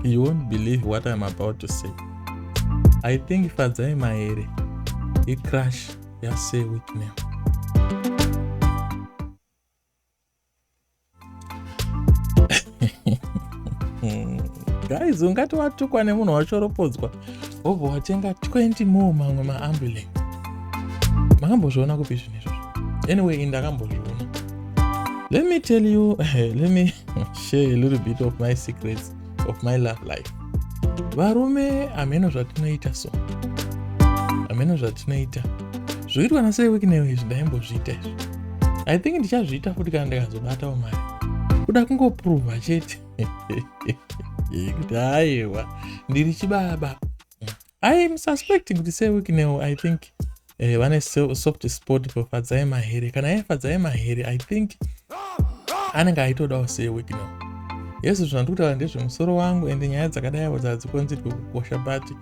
you won't believe what I'm about to say. I think Fadzai Maere, he crash ya say with me. guys ungati watukwa nemunhu wachoropodzwa wobva watenga 20 more mamwe maambulance makambozviona kupi zvinhu izvozvo anyway ini ndakambozviona let me tell you let me share a little bit of my secrets of my love life varume hameno zvatinoita so hameno zvatinoita zvoitwa nasei wiki neyo izvi ndaimbozviita izvi i think ndichazviita futi kana ndikazobatawo mari kuda kungopruvha chete kuti aiwa ndiri chibaba i mususpecting kuti sewiknel i think eh, vane soft spot pafadzai mahere kana yaifadzai mahere i think anenge aitodawo sewiknel yesu zvinhu andiri kutaura ndezvemusoro wangu ende nyaya dzakadai avo dzadzikonzerwe kukosha but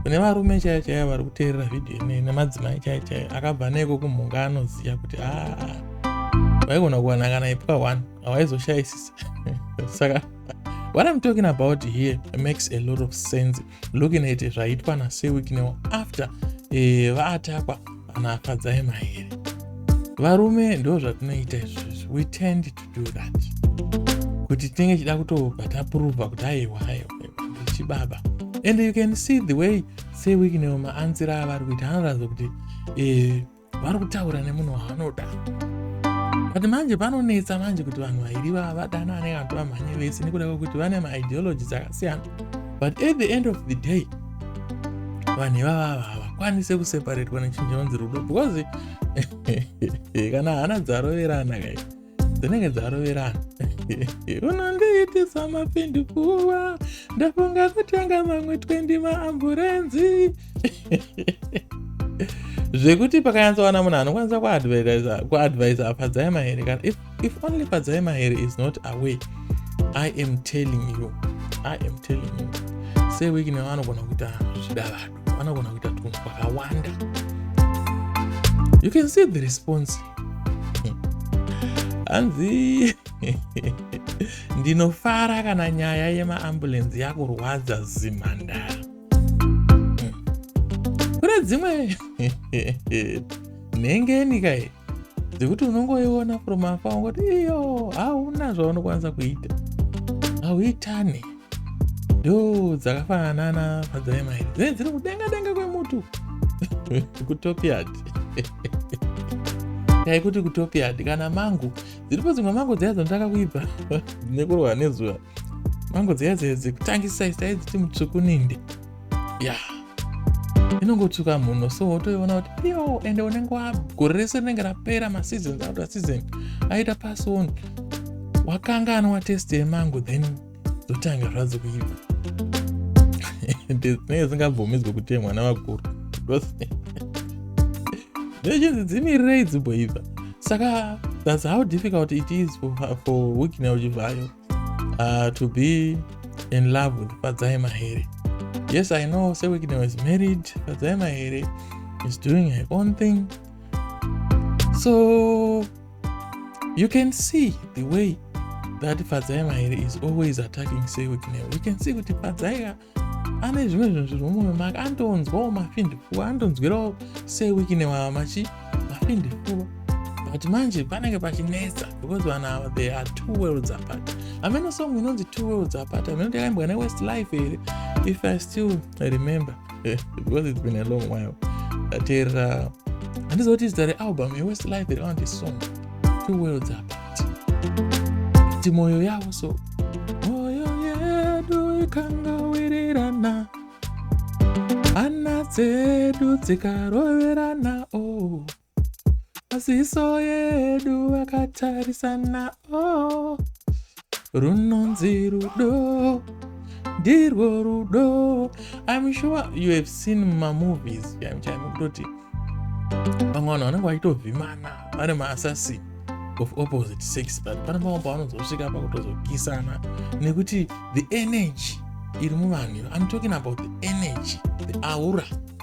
kune varume chaiyo chaiyo vari kuteerera vhidhiyo inei nemadzimai chaiyo chaiyo akabva neiko kumhunga anoziva kuti aa ah, vaigona kuwana kana ipwa one hawaizoshayisisa saka what i'm talking about here makes a lot of sense looking at zvaitwa nasewiknew after eh, vaatakwa anafadzai mahere varume ndo zvatinoita izvozvi we tend to do that kuti tinenge chida kutobva tapruvha kuti aiwa aiwa chibaba and you can see the way sewiknew maanzira avari kuita anoratidza kuti eh, vari kutaura nemunhu waanoda but manje panonetsa manje kuti vanhu vairi vava vadanane vantu vamhanye vese nekuda kwekuti vane maideology dzakasiyana but at the end of the day vanhu ivava ava havakwanise kuseparetwa nechinjonzi rudo because kana hana dzaroverana kai dzinenge dzaroverana unondiitisa mapindi kuva ndafunga kutenga mamwe 20 maamburenzi zvekuti pakanyatsowana munhu anokwanisa kuadvisa afadzai mahere kana if, if only fadzai mahere is not away i am telling you i am telling you seweek nevanogona kuita zvidavado vanogona kuita tunhu twakawanda you can see the response hanzi ndinofara kana nyaya yemaambulensi yakurwadza zimhandara kune dzimwe nhengeni kai dzekuti unongoiona from afar ungoti iyo hauna zvaunokwanisa kuita hauitane yo dzakafanana padzaimairi dzinenge dziri kudenga denga kwemutu kutopiad yaikuti kutopiad kana mangu dziripo dzimwe mango dziya dzonotanga kuibva nekurohwa nezuva mango dziya dzekutangisa isaiziti mutsvuku ninde ya inongotsvuka munhu so wotoiona kuti yo ende unenge wagore rese rinenge rapera maseasons auta season aita pason wakanganwa test yemango then dzotanga zvadzo kuiva dzinenge dzingabvumidzwe kutemwa navakuru ndochinzi dzimirirei dzimboibva saka thats how difficult it is for, for wikina uchivhayo uh, to be in love with fadzai mahere yes i know sewikina was married fadzai mahere is doing her own thing so You can see the way that Fadzai Mahere is always attacking Sewiknel. You can see kuti Fadzai ane zvimwe zvinhu zviri mumwe maka antonzwawo mafindifua antonzwirawo Sewiknel ava machi mafindifua but manje panenge pachinetsa because vanhu ava they are two worlds apart ameno song inonzi two worlds apart ameno ndakaimbwa newest life here if i still remember eh, because it's been a long while ndateerera handiziva kuti zita realbum yewestlife iri vanondi song two worlds apart kuti mwoyo yavo so mwoyo yedu ikangawirirana hana dzedu dzikaroverana o oh. maziso yedu akatarisana oh. runonzi rudo ndirwo rudo im sure you have seen mamovies kutoti vamwe vanhu vanenge vachitovhimana vari maassassin of opposite sex but pane pamwe pavanozosvika pakutozokisana nekuti the energy iri muvanhu i'm talking about the energy the aura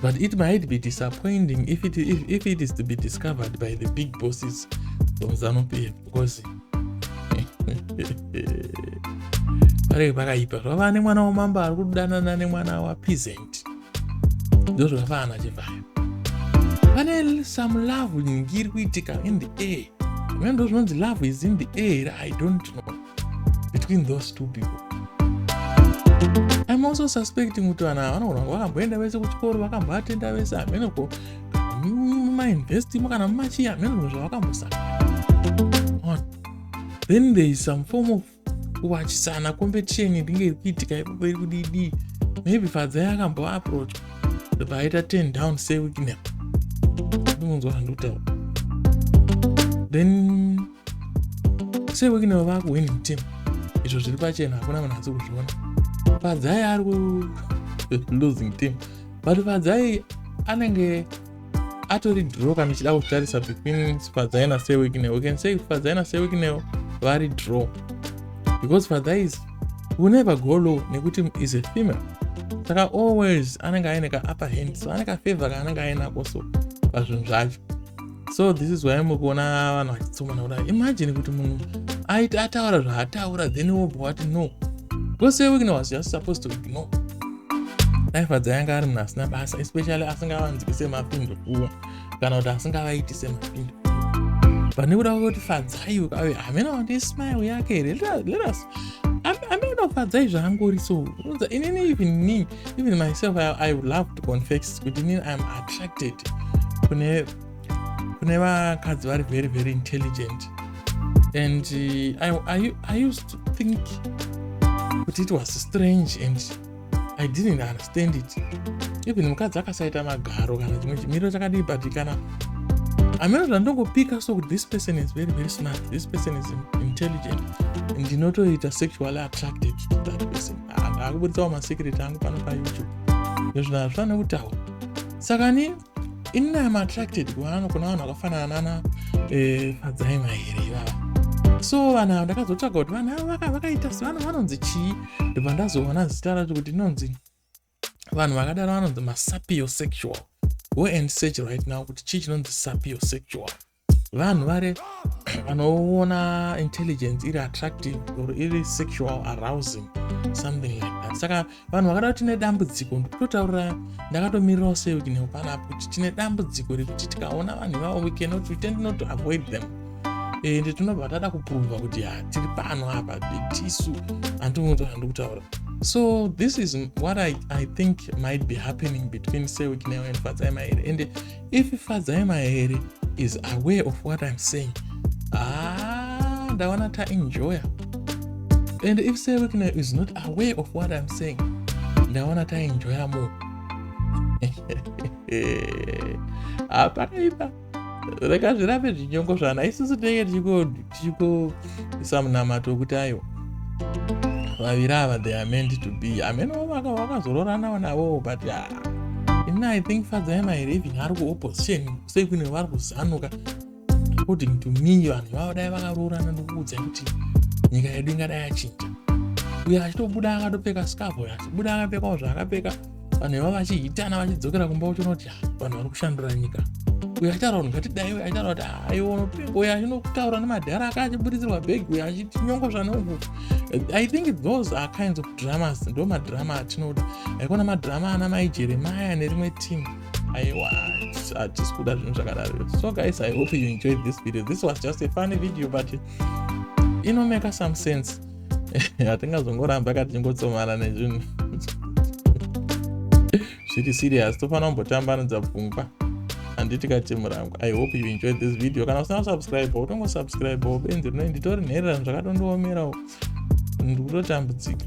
But it might be disappointing if it, if, if it is to be discovered by the big bosses of Zanu PF because pareke pakaipa zvava nemwana wamambo ari kudanana nemwana wapeasant ndo zvakafanana chivhayo pane some love nyingi iri kuitika in the air mene ndo zvinonzi love is in the air i don't know between those two people im also suspecting kuti vanhu ava vanogona kuti vakamboenda vese kuchikoro vakamboatenda vese hameno ko mumainvestimo kana mumachii hameno zvinhu zvavakambosaka then there is some form of kuwachisana competition inenge iri kuitika ipapo iri kudidii maybe fadzai akamboaproach vaita ten down seweeknap ndinonzwa zvandikutaura then sei wekineva vakuhwini mutemo izvo zviri pachena hakuna vanhu asi kuzviona padzai ari kulosing team but padzai anenge atori draw kana ichida kutarisa between sipadzai nasewekineo we can say sipadzai nasewekineo vari draw because sipadzai is will never go low nekuti is a female saka always anenge aine ka upper hand so ane kafavor kaanenge ainako so pazvinhu zvacho so this is why mukuona vanhu vachitsomana kudai imagine kuti munhu aiti ataura zvaataura then wobva wati no because your weakness was just supposed to ignore life dzayanga ari munhu asina basa especially asingavanzwi semapindu kuwa kana kuti asingavaiti semapindu pane kuda kuti fadzai ukave hamena wandi smile yake here let us ameno fadzai zvaangori so unza inini even nii even myself i, I love to confess kuti inini iam attracted kune kune vakadzi vari very very intelligent and uh, I, I, i used to think kuti it was strange and i didn't understand it even mukadzi akasaita magaro kana chimwe chimiro chakadii but kana ameno zvandongopika so kuti this person is very very smart this person is intelligent ndinotoita sexually attracted to that person akuburitsawo masecret angu pano payoutube nezvinhu hazvifane kutaura saka ni inini am attracted kuvanhu kuna vanhu vakafanana nana eh, fadzaima here ivava so vanhu ava ndakazotsvaga kuti vanhu ava vakaita sevanhu vanonzi chii ndibva ndazoona zita racho kuti inonzi vanhu vakadaro vanonzi masapio sexual go and search right now kuti chii chinonzi sapio sexual vanhu vari vanoona intelligence iri attractive or iri sexual arousing something like that saka vanhu vakada kuti tine dambudziko ndikutotaurira ndakatomirirawo seukineo panapa kuti tine dambudziko rekuti tikaona vanhu ivavo we cannot we tend not to avoid them ende eh, tinobva tada kupruvha kuti ha tiri pano apa tisu handimuti handikutaura so this is what i, I think might be happening between seukineo and fatsai mairi ende if fadzai mahere is aware of what i'm saying ah ndaona taenjoya and if sevekna is not aware of what i'm saying ndaona taenjoya mo hapana ipa rega zvirambe zvinyongo zvana isusu tinenge tichikodi tichiko isa munamato wekuti ayo vaviri ava they are meant to be hameno vakazororanawo navowo but ah, ini i think fadzai mairi even ari kuopposition sei kune vari kuzanuka according to me vanhu vavo dai vakaroorana ndokuudza kuti nyika yedu ingadai yachinja uyo achitobuda akatopfeka scarf uyo achibuda akapfekawo zvaakapfeka vanhu ivavo vachihitana vachidzokera kumba uchiona kuti ah, vanhu vari kushandura nyika uyo aitaura kuti ngatidai uyo aitaura kuti ah, aiona pingo uyo achinotaura nemadhara aka achiburitsirwa bhegi uyo achiti nyongo zvanoku i think those are kinds of dramas ndo madrama atinoda aikona madrama ana mai jeremaya nerimwe team aiwa hatisi kuda zvinhu zvakadaro so guys i hope you enjoyed this video this was just a funny video but inomeka some sense hatingazongoramba ka tichingotsomana nezvinhu zviri serious tofanira kumbotambanudza pfungwa handiti katimurangwa i hope you enjoy this video kana usina kusubscribe utongosubscribe benzi rino nditori nhererano zvakatondiomerawo ndikutotambudzika